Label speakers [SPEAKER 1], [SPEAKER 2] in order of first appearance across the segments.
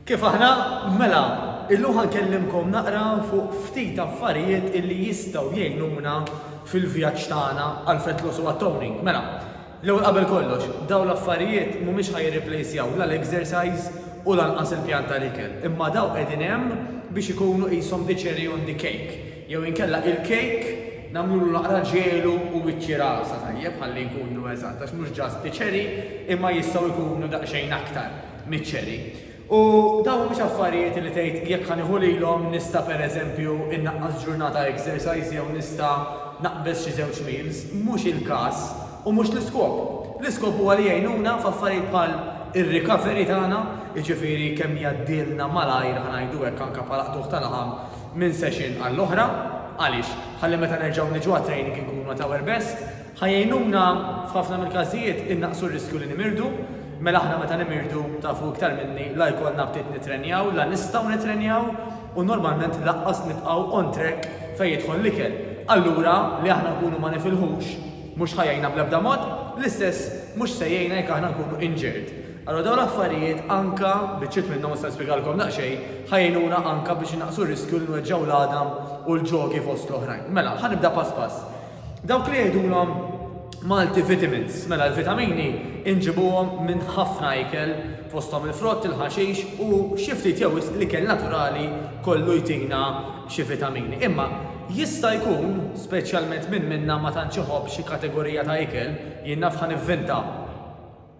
[SPEAKER 1] Kif aħna? Mela, illum ħankellimkom naqra fuq ftit affarijiet illi jistgħu jgħinuna fil-vjaġġ tagħna għal fat loss u għat-toning. Mela, l-ewwel qabel kollox, dawn l-affarijiet mhumiex ħa jirriplejsjaw la l-exercise u lanqas il-pjan tal-ikel, imma dawn qegħdin hemm biex ikunu qishom the cherry on the cake. Jew inkella il-kejk nagħmlulu naqra ġelu u wiċċi rasa tajjeb ħalli nkunu eżatt għax mhux just bi cherry imma jistgħu jkunu daqsxejn aktar miċ-cherry. U dawn mhux affarijiet li tgħid jekk ħa nieħu lilhom nista' pereżempju innaqqas ġurnata exercise jew nista' naqbeż xi żewġ meals, mhux il-każ u mhux l-iskop. L-iskop huwa li jgħinuna f'affarijiet bħal ir-recovery tagħna, jiġifieri kemm jgħaddilna malajr ħa ngħidu hekk anke bħala qtugħ ta' laħam, minn session għall-oħra, għaliex? Ħalli meta nerġgħu niġu għat-training inkunu at our best, ħa jgħinuna f'ħafna mill-każijiet innaqqsu r-riskju li nimirdu, mela aħna meta nimirdu, tafu iktar minni, la jkollna aptit nittrenjaw, la nistgħu nittrenjaw u normalment laqqas nibqgħu on track fejn jidħol l-ikel. Allura, li aħna nkunu ma nifilħux mhux ħa jgħinna bl-ebda mod, l-istess mhux se jgħinna jekk aħna nkunu injured. Allura dawn l-affarijiet anke, biċċiet minnhom nista' nispjegalkom daqsxejn, ħa jgħinuna anke biex innaqqsu r-riskju li nweġġgħu l-għadam u l-ġogi fost l-oħrajn. Mela, ħa nibda pass pass. Dawk li jgħidulhom Malti vitamins, mela l-vitamini inġibuhom minn ħafna ikel fosthom il-frott, il-ħaxix u xi ftit jew wisq l-ikel naturali kollu jtina xi vitamini. Imma jista' jkun, speċjalment min minna ma tantx iħobb xi kategorija ta' ikel, jien naf ħa nivvinta,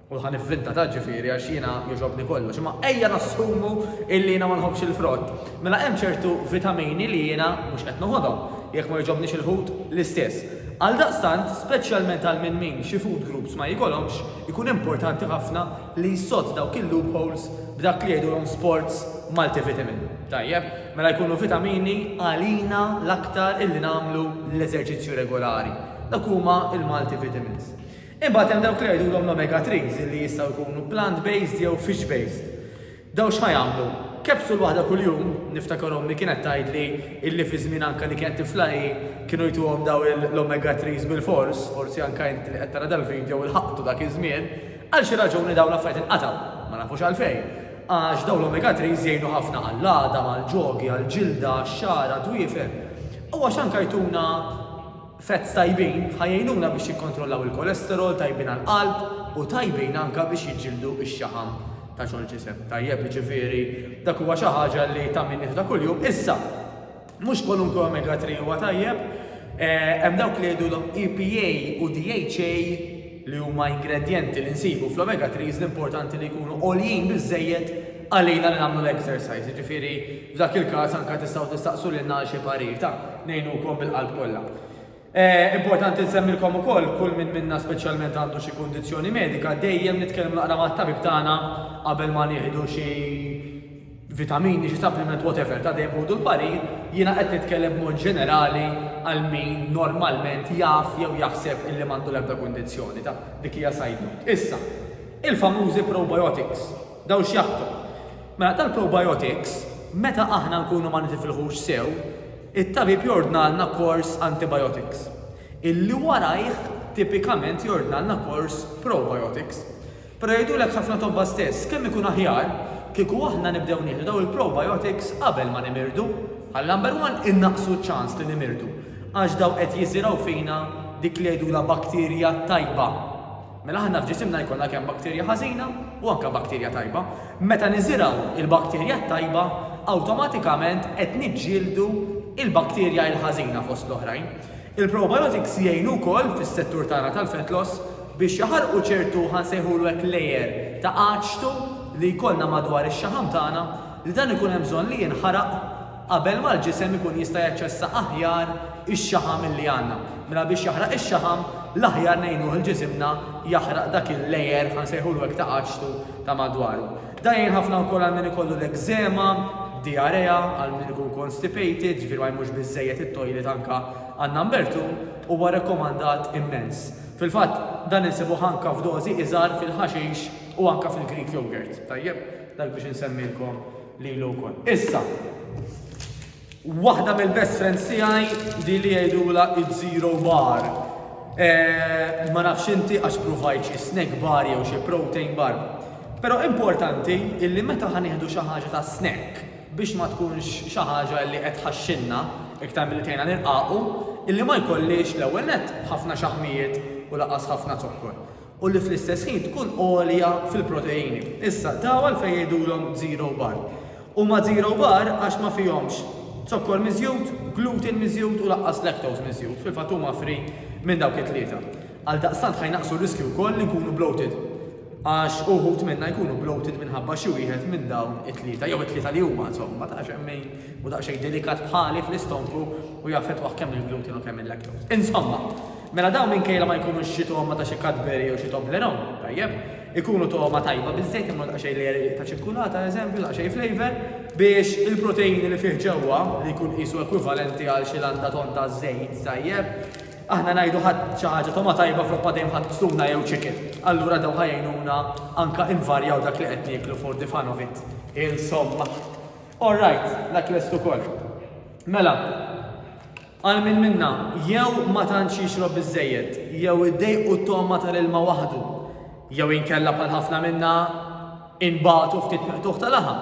[SPEAKER 1] U ħa nivvinta ta' ġifieri għax jiena jogħġobni kollox. Imma ejja nassumu illi jiena ma nħobbx il-frott. Mela hemm ċertu vitamini li jiena mhux qed noħodhom. Jekk ma jogħġobnix il-ħut, l-istess. Għaldaqstant, speċjalment għal minn min xi food groups ma jikolhomx, ikun importanti ħafna li jsodd dawk il-loopholes b'dak li jgħidulhom sports multivitamin. Tajjeb, mela jkunu vitamini għalina l-aktar illi nagħmlu l-eżerċizzju regolari. Dak huma l-multivitamins. Imbagħad hemm dawk li jgħidulhom l-omega threes li jistgħu jkunu plant based jew fish based. Dawn x'ħa jagħmlu? Capsule waħda kuljum, niftakar ommi kienet tgħidli illi fi żmien anke li kienet tifla hi kienu jtuhom dawn l-omega threes bilfors, forsi anke inti li qed tara dal-video ilħaqtu dak iż-żmien, għal xi raġuni dawn l-affarijiet inqatgħu, ma nafux għalfejn, għax dawn l-omega threes jgħinu ħafna għall-għadam, għall-ġogi, għall-ġilda, għax-xagħar, għad-dwiefer, u għax anke jtuna. Fats tajbin ħa jgħinuna biex jikkontrollaw il-kolesterol, tajbin għall-qalb u tajbin anke biex jiġġieldu x-xaħam ta' ġol-ġisem. Tajjeb, jiġifieri dak huwa xi ħaġa li ta' min jieħda kuljum. Issa, mhux kwalunkwe omega 3 huwa tajjeb, hemm dawk li jgħidulhom EPA u DHA, li huma ingredjenti li nsibu fl-omega threes li importanti li jkunu għoljin biżżejjed għalina li nagħmlu l-exercise, jiġifieri f'dak il-każ anke tistgħu tistaqsu lilna għal xi parir ta' ngħinukom bil-qalb kollha. Importanti nsemmilkom ukoll kull min minna speċjalment għandu xi kundizzjoni medika dejjem nitkellmu naqra mat-tabib tagħna qabel ma nieħdu xi vitamini, xi supplement whatever ta' dejjem ħudu l-parir, jiena qed nitkellem b'mod ġenerali għal min normalment jaf jew jaħseb illi m'għandu l-ebda kundizzjoni ta' dik hija side note. Issa, il-famużi probiotics, dawn x'jaħdmu? Mela tal-probiotics, meta aħna nkunu ma nitifilħux sew, it-tabib jordnalna kors antibiotics, illi warajh tipikament jordnalna kors probiotics. Però jgħidulek ħafna tobba stess, kemm ikun aħjar kieku aħna nibdew nieħdu dawn il-probiotics qabel ma nimirdu. Bħal number one innaqqsu ċ-ċans li nimirdu għax dawn qed jiżirgħu fina dik li jgħidulha bakterja tajba. Mela aħna f'ġisimna jkollna kemm bakterja ħażina u anke bakterja tajba. Meta niżirgħu il-bakterja t-tajba, awtomatikament qed niġġieldu il-bakterja il-ħażina fost l-oħrajn. Il-probiotics jgħinu wkoll fis-settur tagħna tal-fat loss biex jaħarqu ċertu ħa nsejħulu hekk layer ta' għaġtu li jkollna madwar ix-xaħam tagħna li dan ikun hemm bżonn li jinħaraq qabel ma l-ġisem ikun jista' jaċċessa aħjar ix-xaħam illi għandna. Mela biex jaħraq ix-xaħam l-aħjar ngħinuh il-ġisimna jaħraq dak il-layer ħa nsejħulu hekk ta' għaġtu ta' madwaru. Dan jgħin ħafna wkoll għal min ikollu l-ekżema, diarrea, għal min ikun constipated, ġifieri ma jmurx biżżejjed it-toilet anke għan-number two, huwa rekkomandat immens. Fil-fatt, dan insibuh anke f'dożi iżgħar fil-ħaxix u anke fil-Greek yogurt. Tajjeb, dak biex insemmilkom lilu wkoll. Issa. Waħda mill-best friends tiegħi li li jgħidula id-zero bar. Eh, ma nafx inti għax provajt xi snack bar jew xi protein bar. Però importanti illi meta ħanieħdu xi ħaġa ta' snack biex ma tkunx xi ħaġa li qed ħaxxinna iktar milli tgħinna nirqaqu, illi ma jkollix l-ewwel net ħafna xaħmijiet u laqas ħafna zokkor. u li fl-istess ħin tkun għolja fil-proteini. Issa, dawn għalfejn jgħidulhom zero bar? Huma zero bar għax ma fihomx zokkor miżjud, gluten miżjud u lanqas lactose miżjud, fil-fatt huma free minn dawk it-tlieta. Għaldaqstant ħa jnaqqsu r-riskju wkoll li nkunu bloated għax uħud minna jkunu bloated minħabba xi wieħed minn dawn it-tlieta jew it-tlieta li huma insomma ta' xejn min u daqsxejn delikat bħali fl-istonku u jaffettwah kemm il-gluten u kemm il-lactose. Insomma, Mela dawn minkejla ma jkunux xi togħma ta' xi Cadbury jew xi Toblerone, tajjeb, ikunu togħma tajba biżżejjed imma daqsxejn l-għerieq ta' ċikkulata, eżempju, daqsxejn flavour, biex il-proteini li fih ġewwa, li jkun qisu ekwivalenti għal xi landa tonn ta' żejt, tajjeb, aħna ngħidu ħadt xi ħaġa togħma tajba flok ma dejjem ħadt tuna jew chicken, allura dawn ħa jgħinuna anke invarjaw dak li qed nieklu for the fun of it. Insomma. All right, dak lest ukoll. Mela. Għal min minna jew ma tantx jixrob biżżejjed, jew iddejqu t-togħma tal-ilma waħdu, jew inkella bħal ħafna minna inbagħtu ftit miqtugħ ta' laħam,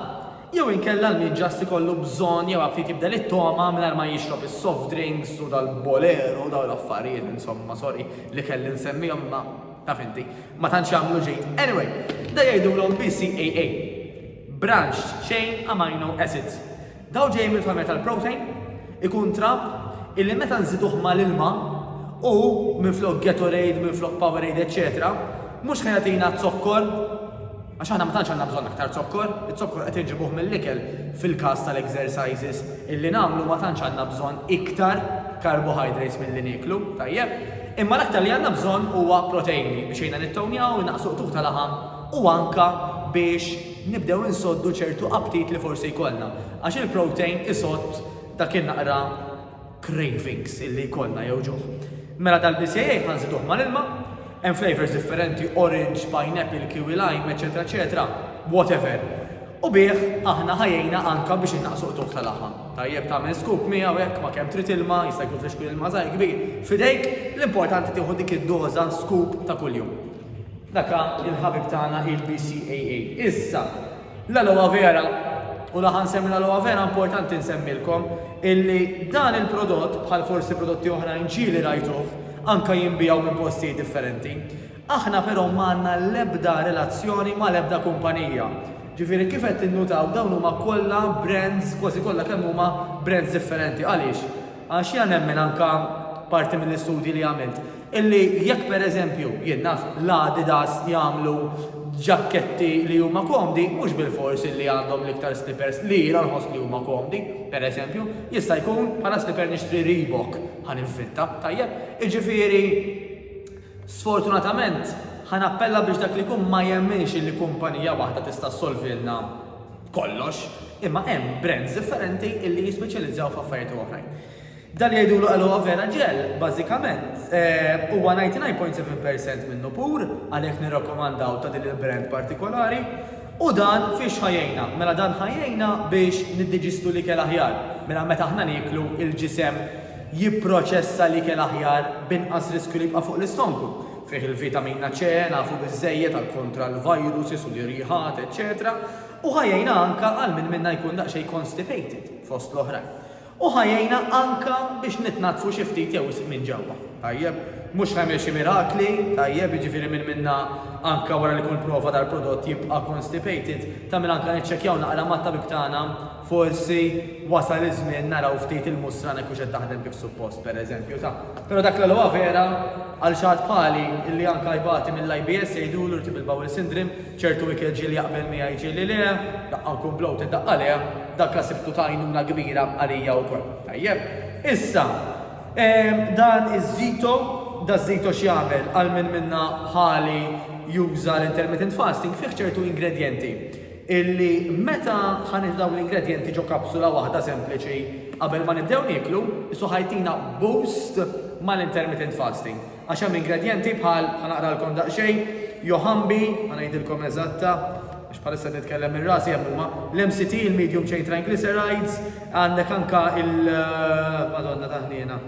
[SPEAKER 1] jew inkella l-min ġast ikollu bżonn jew għad ftit jibdel it-togħma mingħajr ma jixrob is-soft drinks u dal-bolero u dawn l-affarijiet insomma sorry li kelli nsemmihom imma taf inti ma tantx jagħmlu ġid. Anyway, dan jgħidulhom BCAA, Branched Chain Amino Acids. Dawn ġejjin mill-familja tal-protein, ikun trab illi meta nżiduh mal-ilma u minflok Gatorade, minflok Powerade eċċetera, mhux ħa jagħtina zokkor, għax aħna ma tantx għandna bżonn aktar zokkor, iz-zokkor qed inġibuh mill-ikel fil-każ tal-exercises illi nagħmlu ma tantx għandna bżonn iktar carbohydrates milli nieklu, tajjeb? Imma l-aktar li għandna bżonn huwa proteini biex jgħinna nittownjaw, innaqqsu qtugħ ta' laħam u anke biex nibdew insoddu ċertu aptit li forsi jkollna, għax il-protein isodd dak in-naqra cravings illi jkollna jew ġuħ. Mela dal-BCAA ħa nżiduh mal-ilma, hemm flavours differenti, orange, pineapple, kiwi lime, eċetera eċetera, whatever. U bih aħna ħa jgħinna anke biex innaqqsu qtugħ ta' laħam. Tajjeb tagħmel scoop miegħu hekk ma' kemm trid ilma, jista' jkun f'xkwiel ilma żgħir, kbir, f'idejk, l-importanti tieħu dik id-doża scoop ta' kuljum. Daka il-ħabib tagħna il-BCAA. Issa, l-aloe vera u laħan semmi l-aloe vera importanti nsemmilkom illi dan il-prodott bħal forsi prodotti oħra inċili rajtuh anka jimbijaw minn postijiet differenti. Aħna però manna l-ebda relazzjoni ma l-ebda kumpanija. Ġifiri kif qed tinnutaw dawn huma kollha brands kważi kollha kemm huma brands differenti. Għaliex? Għax jiena nemmen anke parti mill-istudji li għamilt illi jekk pereżempju, jien naf, l-Adidas jagħmlu ġakketti li huma komdi mhux bilfors illi għandhom l-iktar slippers li jiena nħoss li huma komdi, pereżempju, jista' jkun bħala slipper nixtri Reebok, ħa ninfitta, tajjeb? Jiġifieri sfortunatament ħa nappella biex dak li jkun ma jemminx illi kumpanija waħda tista' ssolvilna kollox, imma hemm brands differenti illi jispeċjalizzaw f'affarijiet u oħrajn. Dan li jgħidulu aloe vera gel, bażikament, huwa 99.7% minnu pur, għalhekk nirrakkomandaw ta' din il-brand partikolari. U dan fiex ħa jgħinna? Mela dan ħa jgħinna biex niddiġistu l-ikel aħjar. Mela meta aħna nieklu, il-ġisem jipproċessa l-ikel aħjar b'inqas riskju li jibqa' fuq l-istonku. Fih il-vitamina C, nafu biżżejjed għal kontra l-viruses u l-irjiħat, eċċetera U ħa jgħinna anka għal min minna jkun daqsxejn constipated, fost l-oħrajn. U ħa jgħinna anka biex nitnaddfu xi ftit jew wisq minn ġewwa. Tajjeb? Mhux ħa jagħmel xi mirakli, tajjeb, jiġifieri min minna anka wara li jkun prova dal-prodott jibqa' constipated, ta' min anka niċċekkjaw naqra mat-tabib tagħna Forsi wasal iż-żmien naraw ftit il-mustra hekk hux qed taħdem kif suppost, pereżempju, ta'. Però dak l-għalwha vera għal xi ħadd bħali illi anke jbati mill-IBS jgħidulu irtibl bowel syndrome, ċertu ikel ġieli jaqbel miegħi ġieli le, daqqa nkun bloated daqqa le, dak la sibtu ta' għajnuna kbira għalija wkoll. Tajjeb. Issa, dan iż-żito, da żito x'jagħmel għal min minna bħali juża l-intermittent fasting fih ċertu ingredjenti illi meta ħa nieħdu dawn l-ingredjenti ġo kapsula waħda sempliċi qabel ma nibdew nieklu, isu ħa jtina boost mal-intermittent fasting. Għax hemm ingredjenti bħal, ħa naqralkom daqsxejn, johanbi, ħa ngħidilkom eżatta, għax bħalissa qed nitkellem minn rasi hemm huma, l-MCT, il-medium chain triglycerides, għandek anka il, Madonna ta' ħniena.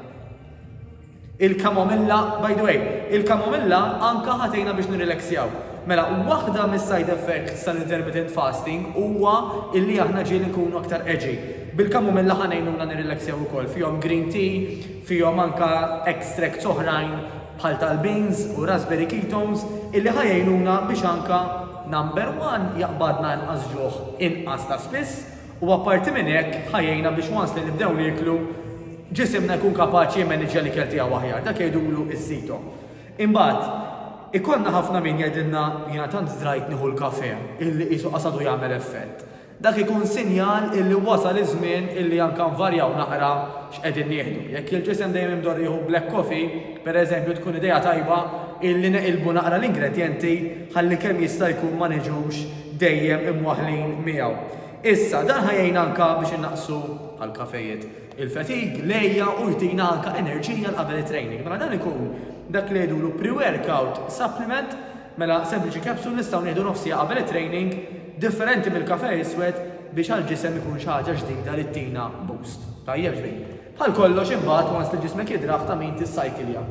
[SPEAKER 1] Il-kamomilla, by the way, il-kamomilla anke ħa tgħinna biex nirrileksjaw. Mela, waħda mis-side effects tal-intermittent fasting huwa illi aħna ġieli nkunu aktar edgy. Bil-kamomilla ħa ngħinuna nirrileksjaw ukoll. Fihom green tea, fihom anke extracts oħrajn bħal tal-beans u raspberry ketones illi ħa jgħinuna biex anke, number one, jaqbadna inqas ġuħ inqas ta' spiss, U apparti minn hekk, ħa jgħinna biex once li nibdew nieklu, ġisimna jkun kapaċi jimmaniġġja l-ikel tiegħu aħjar. Dak jgħidulu s-sito. Imbagħad, ikollna ħafna min jgħidilna, jiena tant fdrajt nieħu l-kafè, illi qisu qas għadu jagħmel effett. Dak ikun sinjal illi wasal iż-żmien illi anke nvarjaw naqra x'qegħdin nieħdu. Jekk il-ġisem dejjem imdorr jieħu black coffee, per eżempju, tkun idea tajba illi neqilbu naqra l-ingredjenti ħalli kemm jista' jkun ma niġux dejjem imwaħħlin miegħu. Issa, dan ħa jgħin anke biex innaqqsu, bħal kafejiet, il-fatigue, l-għejja u jtina anke enerġija għal qabel it-training. Mela dan ikun dak li jgħidulu pre-workout supplement, mela sempliċi capsule nistgħu nieħdu nofsija qabel it-training differenti mill-kafe iswed biex għall-ġisem ikun xi ħaġa ġdida li ttina boost. Tajjeb ġbir. Għal kollox imbagħad once li ġismek jidraħ ta' min tissajkilja.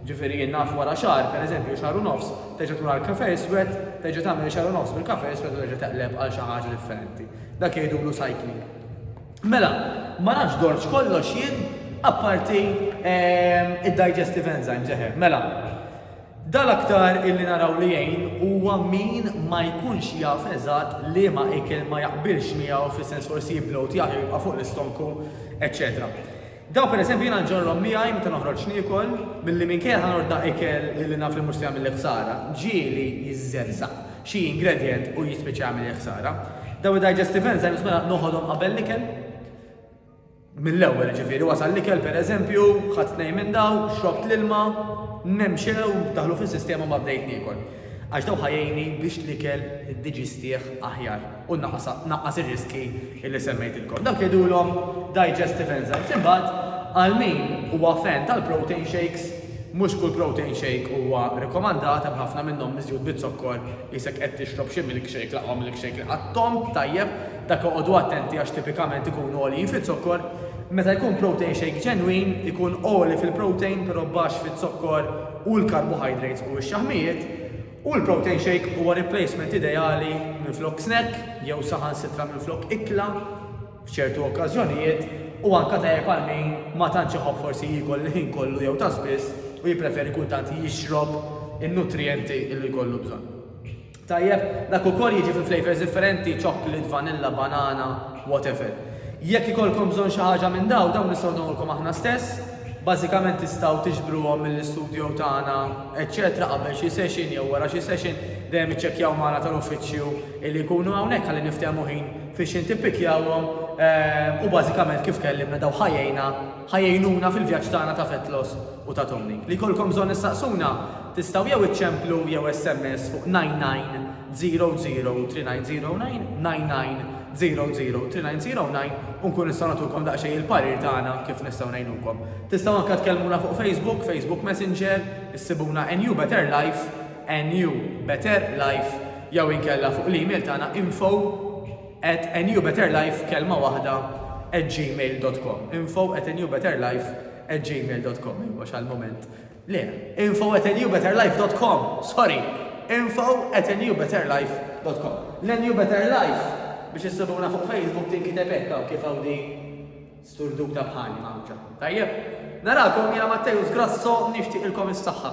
[SPEAKER 1] Ġifieri jien naf wara xahar, per eżempju xahar u nofs, terġa' tmur għall-cafè iswed, terġa' tagħmel xahar u nofs bil-cafè iswed u terġa' teqleb għal xi ħaġa differenti. Dak jgħidulu cycling. Mela, ma nafx dortx kollox jien apparti id-digestive enzymes, eħe, mela. Dan l-aktar illi naraw li jgħin huwa min ma jkunx jaf eżatt liema ikel ma jaqbilx miegħu fis-sens forsi jibloat jagħti u jibqa' fuq l-istonku eċċetera. Dawn pereżempju jiena nġorrhom miegħi meta noħroġ niekol milli minkejja ħa norda ikel illi naf li mhux se jagħmilli ħsara, ġieli jiżżerżaq xi ingredient u jispiċċa jagħmilli ħsara. Dawn id-digestive enzymes mela noħodhom qabel l-ikel? Mill-ewwel, jiġifieri, wasal l-ikel, pereżempju, ħadt tnejn minn dawn, xrobt l-ilma, nemxew, daħlu fis-sistema u ma bdejt niekol. Għax dawn ħa jgħinni biex l-ikel iddiġistih aħjar u naqqas ir-riskji li semmejtilkom. Dawk jgħidulhom digestive enzymes. Imbagħad, għal min huwa fan tal-protein shakes, mhux kull protein shake huwa rikomandat, hemm ħafna minnhom miżjud biż-zokkor, qisek qed tixrob xi milkshake, l-aqwa milkshake li qattomt, tajjeb, Dak oqogħdu attenti għax tipikament ikunu għoljin fiz-zokkor, meta jkun protein shake ġenwin ikun għoli fil-protein però baxx fiz-zokkor u l-carbohydrates u x-xaħmijiet u l-protein shake huwa replacement ideali minflok snack jew saħansitra minflok ikla f'ċertu okkażjonijiet u anka tajjeb għal min ma tantx iħobb forsi jiekol il-ħin kollu jew ta' spiss u jippreferi kultant jixrob in-nutrijenti li jkollu bżonn. Tajjeb, dak ukoll jiġi fi flavours differenti, chocolate, vanilla, banana, whatever. Jekk ikollkom bżonn xi ħaġa minn dawn, dawn nistgħu nagħmulkom aħna stess. Bażikament tistgħu tiġbruhom mill-istudio tagħna eċċetera qabel xi session jew wara xi session, dejjem iċċekkjaw magħna tal-uffiċċju illi jkunu hawnhekk ħalli niftehmu ħin fiex int tippikkjahom u bażikament kif tkellimna dawn ħa jgħinna, ħa jgħinuna fil-vjaġġ tagħna ta' fat loss u ta' toning. Li jkollkom bżonn issaqsuna, Tistgħu jew iċċemplu jew SMS fuq 99003909, 99003909, u nkunu nistgħu nagħtukom daqsxejn il-parir tagħna kif nistgħu ngħinukom. Tistgħu anke tkellmuna fuq Facebook, Facebook Messenger, issibuna NU Better Life, NU Better Life, jew inkella fuq l-email tagħna info at nubetterlife, kelma waħda, at gmail dot com, info at nubetterlife, at gmail dot com, għax għall-mument. Le, info at newbetterlife dot com, sorry, info at newbetterlife dot com. Le New Better Life, biex issibuna fuq Facebook tinkiteb hekk hawn kif hawn din sturduta bħali mgħawġa. Tajjeb? Narakom jiena Matteus Grasso nixtieqilkom is-saħħa.